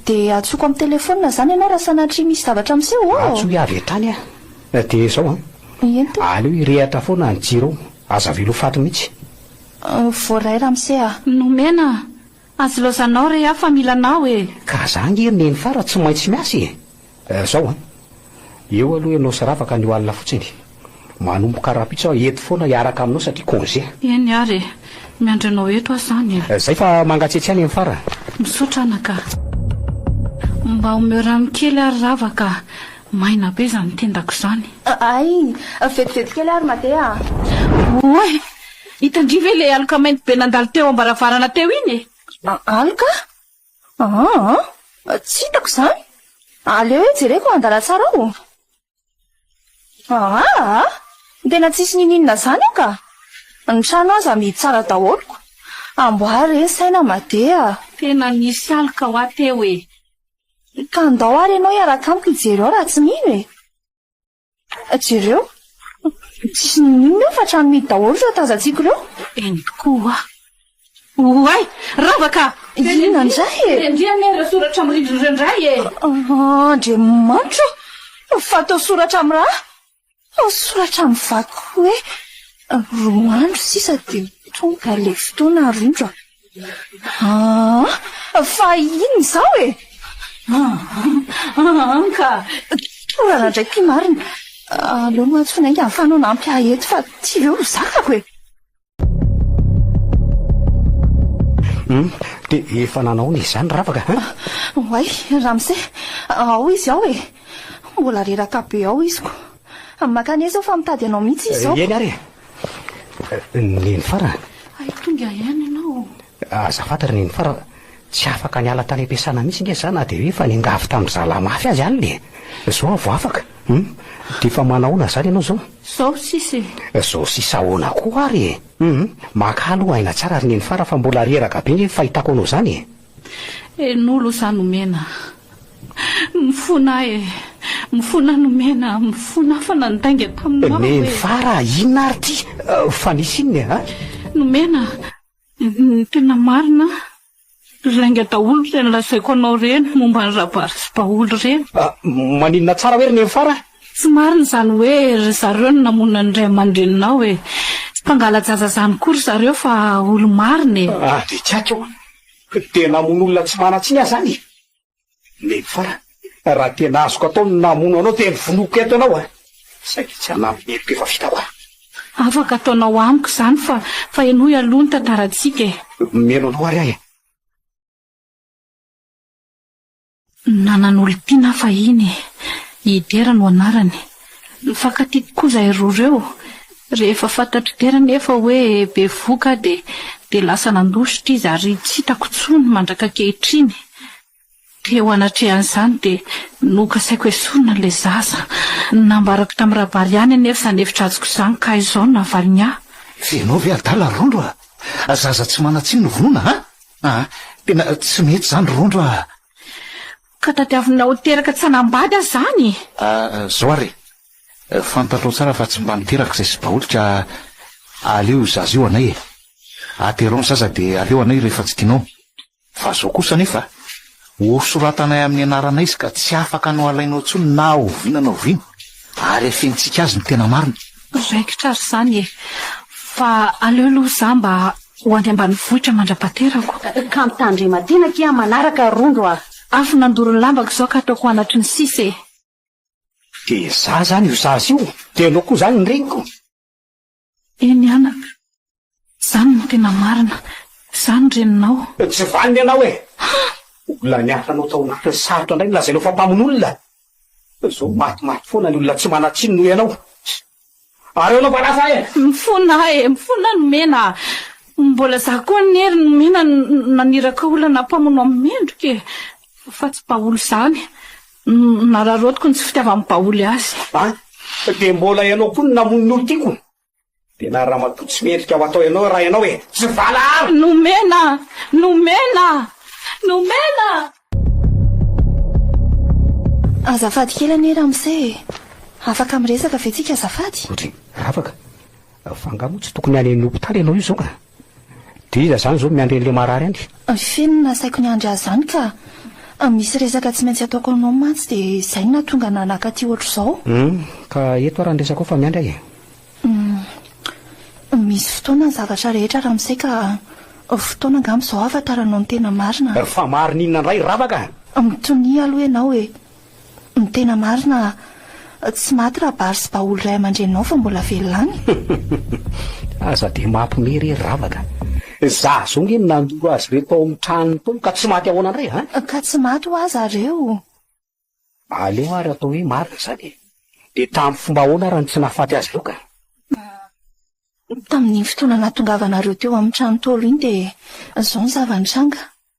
Dia antsoiko amin'ny telefonina izany ianao raha sanatria misy zavatra miseho ô! Antsoy avy hatrany aho. Dia izao an! Eny tompoko. Aleo hirehatra foana ny jiro ao. Aza velao faty mihitsy. Voaray ramose a! Nomena a! Azy laozanao re a fa mila anao e! Ka za nge neny fara tsy maintsy miasa e! Eh zao an! Eo aloha ianao sy Rava ka anio alina fotsiny. Manomboka rahampitso aho eto foana hiaraka aminao satria congé. Eny ary e! Miandry anao eto aho zany e! Zay fa mangatsiatsy ihany eny fara. Misaotra anaka. Mba omeo rano kely ary Rava ka! Maina be izany tendako izany. Ay! Vetivety kely ary Made a! Oay! Hitandria ve ilay aloka mainty be nandalo teo am-baravarana teo iny e? A, aloka? Aa, tsy hitako izany. Aleo hoe jereko an-dalantsara ao. Aa, aa, tena tsisy ninianina izany aho ka! Ny trano aza amidy tsara daholo. Amboary re ny saina Made a! Tena nisy aloka hoa teo e! Ka ndao ary ianao hiaraka amiko hijery ao raha tsy mino e! Jereo, tsisy n'inon'inona eo fa trano mihidy daholo ireo tazantsika ireo. Eny tokoa. Oay! Rava ka! Inona indray e? Endrey anie ireo soratra amin'ny rindrina ireo indray e! Andriamanitra ô! Fa toa soratra amin'ny rà? Fa soratra amin'ny vaky hoe roa andro sisa dia ho tonga ilay fotoana ry indro a! Aa! Fa inona izao e? Aa! Ka tsy orana indray ity marina. Aleo mantsy f'nainga ahafahanao hanampy ahy eto fa tsy leo ny zakako e! Hum! Dia efa nanaony izany Ravaka an! Oay, Ramose! Ao izy ao e! Mbola reraka be ao izy ko! Amin'ny makany ahy izao fa mitady anao mihitsy izy izao. Ry Eny ary e! Neny Fara a! Hay tonga ihany ianao. Aza fanta ry Neny Fara, tsy afaka niala tany am-piasana mihitsy nge za na dia hoe efa niangavy tamin'ny zalahy mafy azy alina e! Izao aho vao afaka. Hum! Dia efa manahoana izany ianao izao? Izao sisa e! Izao sisa ahoana koa ary e! Hum! Makà aloha aina tsara ry Neny Fara fa mbola reraka be nge ny fahitako anao izany e! Eh nolo za nomena Mifona eh Mifona nomena Mifona fa nandainga taminao eh Neny fa raha inona ary ty Fa nisy inona eh an Nomena Ny tena marina Lainga daholo ireny lazaiko anao ireny momba an'i Rabary sy Baholy ireny ah, Maninona tsara hoe ry Neny fa raha. Tsy marina izany hoe ry zareo no namono an'ny ray aman-dreninao e! Tsy mpangala-jaza izany koa ry zareo fa olo-marina e! Raha dia tsy aiko io dia namono olona tsy manan-tsiny aho izany e! Neny farany, raha tena azoko atao ny namono anao dia novonoiko eto ianao a! Saingy tsy hanampy ny heloka efa vitako aho. Afaka ataonao amiko izany fa fa henoy aloha ny tantarantsika e! Omeno anao ary aho e! Nanan'olon-tiana aho fahiny. I Dera no anarany. Nifankatia tokoa izahay roa ireo. Rehefa fantatr'i Dera anefa hoe bevohoka aho dia dia lasa nandositra izy ary tsy hitako intsony mandraka ankehitriny. Teo anatrehan'izany dia nokasaiko esorina ilay zaza. Nambarako tamin'i Rabary ihany anefa izany hevi-dratsiko izany ka izao no navaliny ahy. Ianao ve adala Roro a! Zaza tsy manan-tsiny no vonoina an! Ah, tena tsy mety izany Rondro ah! Ka tadiavinao teraka tsy hanambady aho izany? Ah, izao ary e, fantatrao tsara fa tsy mba niteraka izay sibaoly ka aleo io zaza io anay e! Aterao ny zaza dia aleo anay rehefa tsy tianao. Fa izao kosa anefa. Hosoratanay amin'ny anarana izy ka tsy afaka no halainao intsony na oviana na oviana, ary hafenintsika azy ny tena marina. Raikitra ary izany e! Fa aleo aloha izaho mba ho any ambanivohitra mandra-pahaterako. Ka mitandrema tena akia manaraka Rondro a! Avy nandoro ny lambako izao ka ataoko anatry ny sisa e! Dia izaho izany io sasa io, dia aleo koa izany ny reniko. Eny anaka, zany no tena marina, zany reninao. Tsy vanona ianao e! Olona niasa anao tao anatin'ny sarotra indray no lazainao fa mpamono olona? Zao maty maty foana ny olona tsy manan-tsiny noho ianao. Ary ao anaovana asa e! Mifona aho e! Mifona aho nomena a! Mbola za koa anie ry nomena no naniraka olona na mpamono amin'ny mendrika e! Fa tsy mpaholo zany. Nararaotiko ny tsy fitiavan'ny baoly azy. A! Fa dia mbola ianao koa no namono ny olon-tiako? Dia na ramatoa tsy mendrika ho atao ianao raha ianao e! Tsy valaharo! Nomena! Nomena! Nomena! Azafady kely anie ramose e! Afaka miresaka ve tsika azafady? Otriny! Afaka! Fa angaha moa tsy tokony any amin'ny hopitaly ianao io izao ka? Dia iza zany zao miandry an'ilay marary any? Feno ny nasaiko niandry azy zany ka! Misy resaka tsy maintsy ataoko aminao mantsy dia zay no nahatonga anah naka aty ohatr'izao. Hum, ka eto ary ny resakao fa miandry ahy e! Hum, misy fotoana ny zavatra rehetra ramose ka fotoana angamba izao ahafataranao ny tena marina. Fa marina inona ndray ravaka? Mitonia aloha ianao e! Ny tena marina, tsy maty rabary sy baoly ray aman-dreninao fa mbola velona any. Aza dia mampime re ry ravaka. Za zao nge no nandoro azy reto tao amin'ny tranony tao ka tsy maty ahoana ndray an? Ka tsy maty hoa za reo. Aleo ary atao hoe marina izany e. Dia tamin'ny fomba ahoana ary no tsy nahafaty azy ireo ka? Tamin'iny fotoana nahatongavanareo teo amin'ny trano Ntaolo iny dia izao ny zava-nitranga.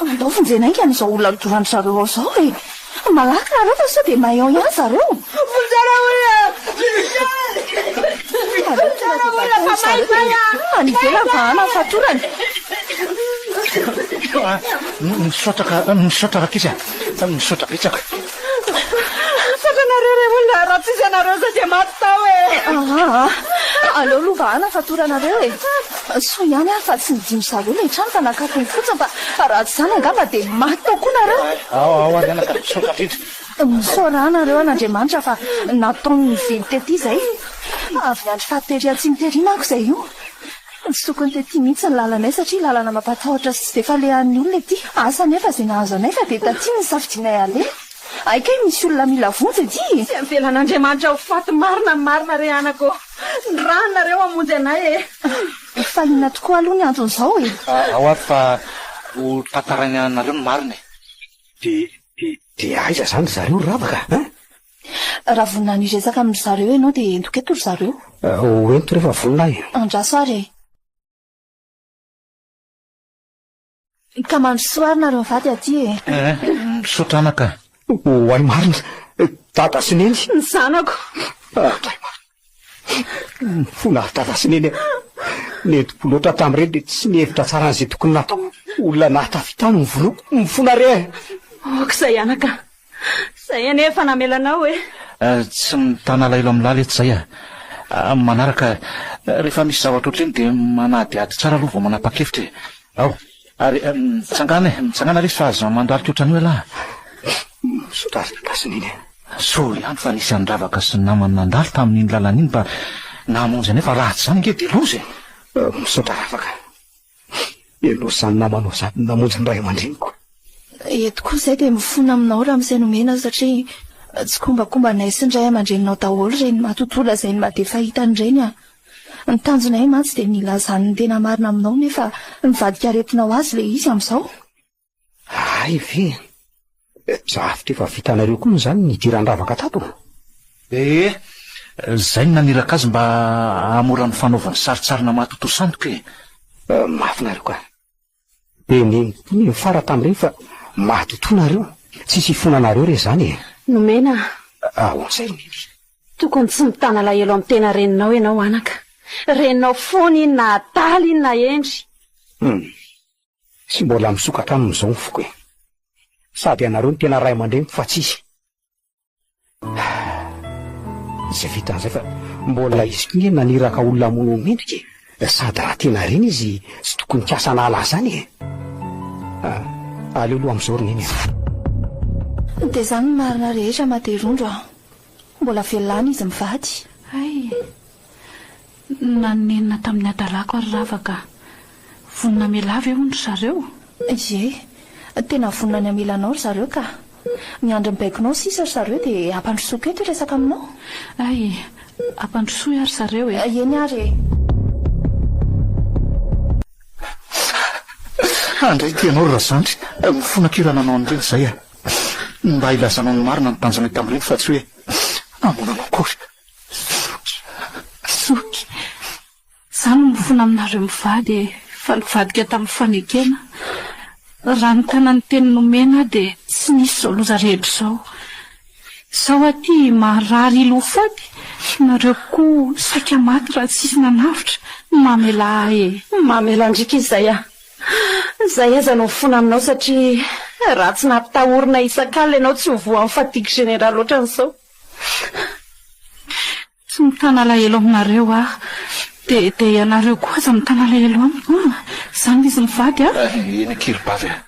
Andao vonjena ainga an'izao olona lodoran-dry zareo ao izao e! Malaky nareo fa sao dia maillon ihany zareo! Vonjena olona! Vonjena olona fa may izany an! Any ivelany fa hanana fatorana! Misaotra ka, misaotra rakitra e! Misaotra betsaka! Saotra anareo re olona raha tsisy anareo zay dia maty tao e. Aa aleo aloha vahana fa toranareo e. Soa ihany aho fa tsy nidino zareo ilay trano fa nakatony fotsiny fa raha tsy izany angamba dia maty tao koa nareo. Ao ao ary anaka misaotra indrindra. Misaoraa anareo an'Andriamanitra fa nataony nively tety izay. Avy niandry faty tery atsimo tery manko izay io. Tsy tokony tety mihitsy ny lalanay satria lalana mampatahotra sy tsy dia falehan'ny olona ety. Asa anefa izay nahazo anay fa dia taty no nisafidianay haleha. Hay kay misy olona mila vonjy ety e! Tsy avelan'Andriamanitra ho faty marina ny marina re anako ô! Ny ràny nareo hamonjy anay e! Fa inona tokoa aloha ny anton'izao e? Ao ary fa ho tantaraina nareo ny marina e! Dia dia dia aiza izany ry zareo ry Ravaka a? Raha vonona ny hiresaka amin-dry zareo ianao dia entiko eto ry zareo. Ho ento rehefa vonona aho e. Andraso ary e. Ka mandrosoa ary nareo mivady aty e. Misaotra anaka. Ho ahy marina. Dada sy Neny. Ny zanako. Andray marina. Fo nahatara sy neny nentim-po loatra hatramin'ireny dia tsy nihevitra tsara an'izay tokony natao. Olona nahatafita ahy no novonoiko. Mifona re eh! Aoka izay anaka a! Izay anie efa namela anao eh! Tsy mitana alailo amin'ny lala eto izay a! Amin'ny manaraka, rehefa misy zavatra ohatr'iny dia manadihady tsara aloha vao manapa-kevitra e! Ao! Ary mitsangana e, mitsangana lesy fa aza mandalo tsotra an'io ialahy e. Misaotra ary ny gasy neny e. Soa ihany fa nisy andravaka sy namany nandalo tamin'iny lalana iny mba nahamonjy anay fa raha tsy izany ange dia loza e. Misaotra ravaka. Heloha izany namanao izany namonjy ny ray aman-dreniko. Eto koa izahay dia mifona aminao ramose nomena satria tsikombakombanay sy ny ray aman-dreninao daholo ireny matotola izay ny maha be fahitany ireny a. Ny tanjonay mantsy dia ny hilazany ny tena marina aminao nefa mivadika aretina ho azy ilay izy amin'izao. Hay ve! Drafitra efa vitanareo koa izany ny hidiran-dravaka tato? Ee, izay no naniraka azy mba hahamora ny fanaovany sarintsarina mahatotoa sandoka e! Mahafinaritra. Dia ny mifara tamin'ireny fa mahatotoa nareo. Tsisy hifona anareo re izany e. Nomena. Ahoana ireo biby? Tokony tsy mitana alahelo amin'ny tena reninao ianao anaka. Reninao foana iny na adala iny na hendry. Hum. Tsy mbola misokatra aminy izao ny foko e. Sady ianareo no tena ray aman-dreniko fa tsisy. Izay vita an'izay fa mbola izy koa nge naniraka olona hamono ny mendrika e. Eh, sady raha tena ireny izy tsy tokony kasa anala azy zany e. Ah, aleo aloha amin'izao ry neny a. Dia izany ny marina rehetra Materondro a. Mbola velona any izy mivady. Hay e. Nanenina tamin'ny hadalàko ary rava ka. Vonona hamelà ve hono ry zareo? Ie, tena vonona ny hamela anao ry zareo ka. Miandry ny baikonao sisa ry zareo dia hampandrosoako eto hiresaka aminao. Hay e! Hampandrosoy aho ry zareo e! Eny ary e! Handray ity ianao ry Razandry, mifona kely hananao an'ireny izahay a! Mba hilazanao ny marina ny tanjona hita amin'ireny fa tsy hoe hamono anao akory. Zoky! Zoky! Za no mifona aminareo mivady e! Fa nivadika tamin'ny fanekena. Raha nitana ny teny nomena aho dia tsy nisy izao loza rehetra izao. Izaho aty marary ilo ho faty, nareo koa saika maty raha tsisy nanavotra. Mamelà ahy e! Mamelà an-driaka izy izay aho. Izay aza no mifona aminao satria raha tsy nampitahorina isak'alina ianao tsy ho voan'ny fatigue générale ohatran'izao. Tsy mitana alahelo aminareo aho. Dia dia ianareo koa aza mitana alahelo amiko an! Izany izy mivady an! Ry eny ankilibavy an!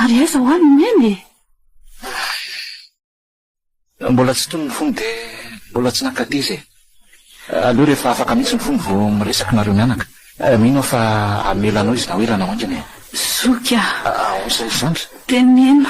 Ary aiza ho any i Neny e? Mbola tsy tony ny fony dia mbola tsy nankady izy e! Aleo rehefa afaka mihitsy ny fony vao miresaka nareo mianaka. Mino aho fa hamela anao izy na ho ela na ho haingana e! Zoky an! Ahoana izany ry zandry? Dia mino.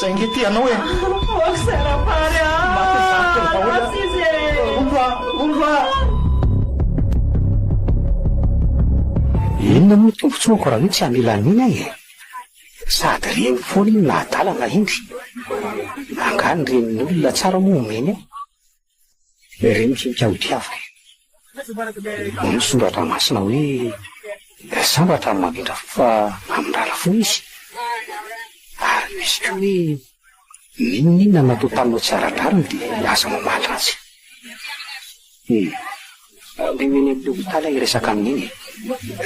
Zay nge tianao e! Mivoaka izay rapary a! Maty zafika ny vahoaka! Maty izy e! Omby a! Omby a! Inona moa tompotsoako raha hoe tsy hamela an'iny aho e! Sady reny foana iny na adala na indry! Angaha ny renin'olona tsara moa omeny ahy? Ireny tsy ho tiavina. Hoy ny Soratra Masina hoe, Dia sambatra ny mamindra fo fa hamindrana fo izy. Ary misy koa hoe, N'inon'inona natotanao tsy ara-drariny dia aza mamaly azy. Hum. Aleo eny amin'ny hopitaly aho hiresaka amin'iny e.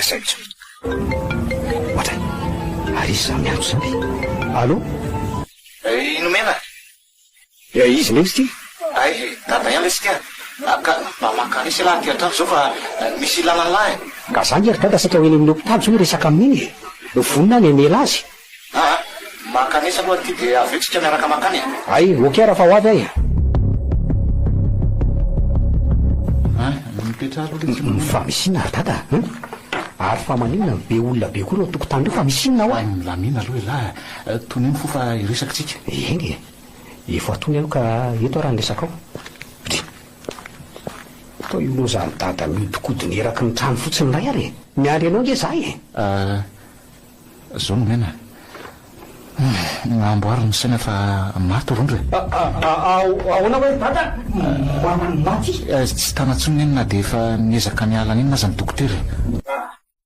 Izay intsony. Ohatra, ary izy izany miantso izany. Allô? Nomena. Dia izy mihitsy ity. Hay dada ihany lesy ity a! Ka mba maka lesy ialahy aty an-trano izao fa misy ilàna an'lah e! Ka zany e ry dada saika ho eny amin'ny hopitaly izao miresaka amin'iny e! Vonona ny hamela azy. Aa! Maka lesy aloha ity dia avy eo tsika miaraka makany e! Hay, ok raha fa ho avy ahy e! Fa misy inona ry dada a! Ary fa maninona no be olona be koa eo an-tokotany eo fa misy inona hoa? Milamina aloha ialahy a! Tonia ny fo fa hiresaka tsika. Eny e! Efa atoy aho ka eto ary ny resakao. Dry! Toa io lozan'i Dada mihodinkodina eraky ny trano fotsiny indray ary e! Miandry anao ange izaho e! Ah! Zao no miaina e! Amboary ny saina fa maty rondra e! Ahoana hoy ry Dada? Maty? Tsy tana intsony anie na dia efa niezaka niala an'inona aza ny dokotera e!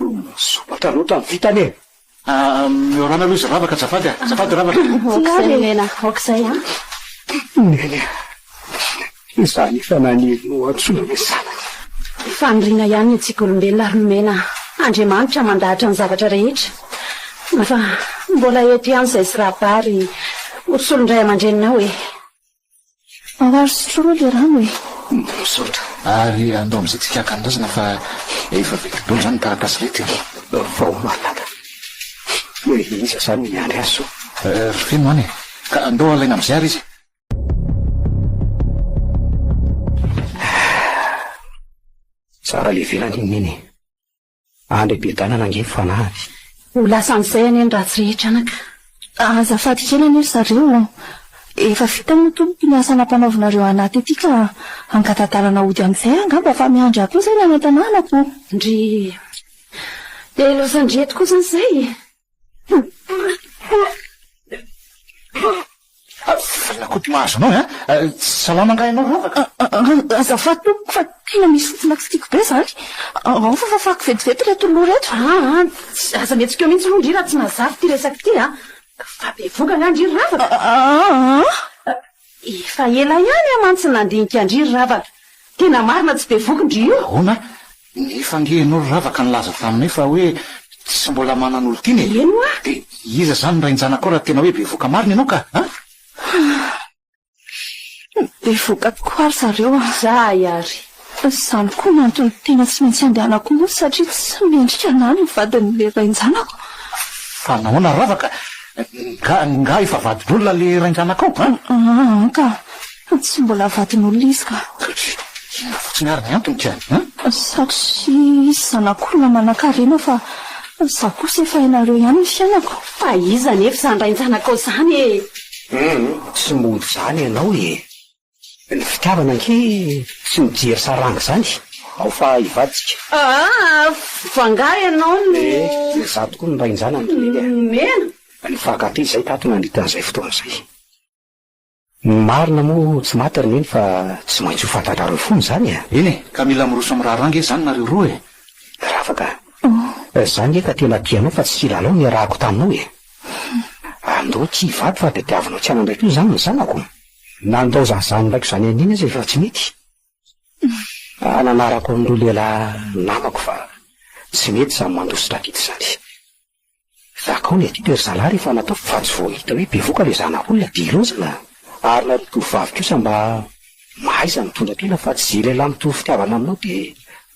Olona sopatra loatra ny vitany e! Miorana aloha izy ravaka azafady a! Azafady ravaka! Tsy ary e! Nena, aoka izay an! Neny a! Izaho efa naniry ny ho antsoina hoe zanany. Faniriana ihany ny antsika olombelona ary nomena Andriamanitra mandahatra ny zavatra rehetra fa mbola eto ihany izay sy rabary ho solon-dray aman-dreninao e! Marary sotroa aloha ilay rano e! Misaotra. Ary andao amin'izay tsy kiaka an'razana fa efa vita daholo izany ny taratasy rehetra e! Vao manana hoe iza izany i Andry Hasso? Ry Feno an e! Ka andao alaina amin'izay ary izy. Tsara ilay velany iny Neny e! Any Bebedanana ange ny fanahiny. Ho lasan'izay anie ny ratsy rehetra anaka. Azafady kely anie ry zareo ô! Efa vita moa tompoko ny asa nampanaovinareo anah tety ka hangata-dalana hody amin'izay aho angamba fa miandry ahy koa izay ny any an-tanànako. Ndrii. Dia laosan-dry eto kosa an'izay e! Avelao koto mahazo anao an! Salama angaha ianao Ravaka? Azafady tompoko fa tena misy fofona tsy tiako be izany. Ao fa fafako vetivety ireto lo ireto. Aa, aza mihetsikeo mihitsy aloha ndry raha tsy mazava ity resaka ity an! Fa bevohoka angaha ndry ry Ravaka? Aa. Efa ela ihany aho mantsy nandinika an-dry ry Ravaka. Tena marina tsy bevohoka ndry io. Ahoana? Nefa ange ianao ry Ravaka nilaza taminay fa hoe tsy mbola manana olon-tiana e! Eny hoa! Dia iza izany ny rain-janakao raha tena hoe bevoka marina ianao ka a! Bevoka tokoa ry zareo a! Izahay ary! Izany koa no antony tena tsy maintsy andehanako monsy satria tsy mendrika an'ahy ny vadin'ilay rain-janako. Fa nahoana ry Ravaka? Nga nga efa vadin'olona ilay rain-janakao a? An ka! Fa tsy mbola vadin'olona izy ka. Inona fotsiny ary ny antony ka an? Satria zanak'olona manankarena fa za kosa efa ianareo ihany ny fiainako. Fa iza anefa izany rain-janakao izany e? Hum, tsy mody izany ianao e! Ny fitiavana ankihy tsy mijery saranga izany, ao fa hivadika. Aa! Fa angaha ianao no. Ee, izaho tokoa no rain-janany. Nomena. Ny fahagatiny izay tato nandritra an'izay fotoana izay. Ny marina moa tsy maty ry neny fa tsy maintsy ho fantatrareo fona izany e! Eny e, ka mila miroso amin'ny raharaha ange izany nareo roa e! Rafaka a! Za nge efa tena tia anao fa tsy lalao no niarahako taminao e! Andao tsy hivady fa tadiavinao tsy hanambay koa izany ny zanako! Na handaozan'ny zanany raiko izany anio aza efa tsy mety! Ahy nanarako an'ireo lehilahy namako fa tsy mety izany mandositra vita izany! Za koa le tiako ry zalahy rehefa natao fa tsy vao hita hoe bevoka le zanak'olona de lonjana ary nareo tovovavy kosa mba mahaiza mitondra tena fa tsy ze lehilahy mitovy fitiavana aminao de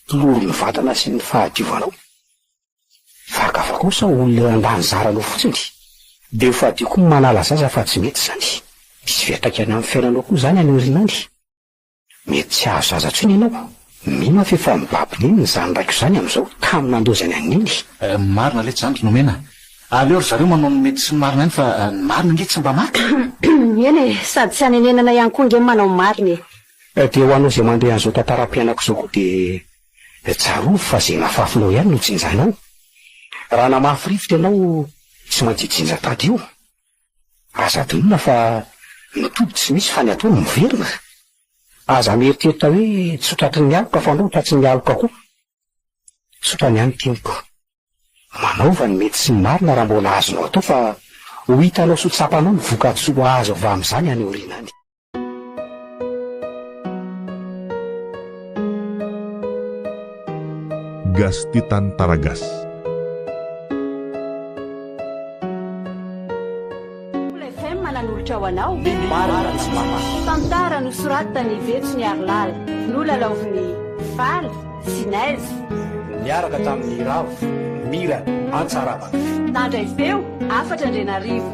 mpiloro ny vatana sy ny fahadiovanao fa gaga koa sao olona eo andan'ny zaranao fotsiny de ho fadio koa ny manala zaza fa tsy mety zany misy fiantraikany amin'ny fiainanao koa zany any aoriana any. Mety tsy hahazo zaza intsony ianao. Mino aho fa efa mibaby neny ny zan'ny raiko izany amin'izao, tamin'ny nandoa izay ny an'i Neny. Marina letsy zany ry nomena. Aleo ry zareo manao ny mety sy ny marina ihany fa ny marina ange tsy mba maty. Eny e, sady tsy hanenenana ihany koa ange ny manao ny marina e. Dia ho anao izay mandeha an'izao tantaram-piainako izao koa dia tsarovy fa izay nafafinao ihany no jinjanao. Raha namafy rivotra ianao tsy maintsy hijinja tadio. Aza adinona fa ny toby tsy misy fa ny atao no miverina. Aza mieritreritra hoe tsy hotratry ny aloka fa anao tratry ny aloka koa. Tsotra ny an'ny teniko. Manaova ny mety sy ny marina raha mbola azonao atao fa ho hitanao sy ho tsapanao ny vokatsoa azo avy amin'izany any aoriana any. Gasy tia tany tara gasy. nanolotra ho anao ny marina tsy mamaky tantara nosoratany vetso ny arilala nolalaoviny faly sy naiz niaraka tamin'ny ravo mira antsarabaka nandray feo afatra andrianarivo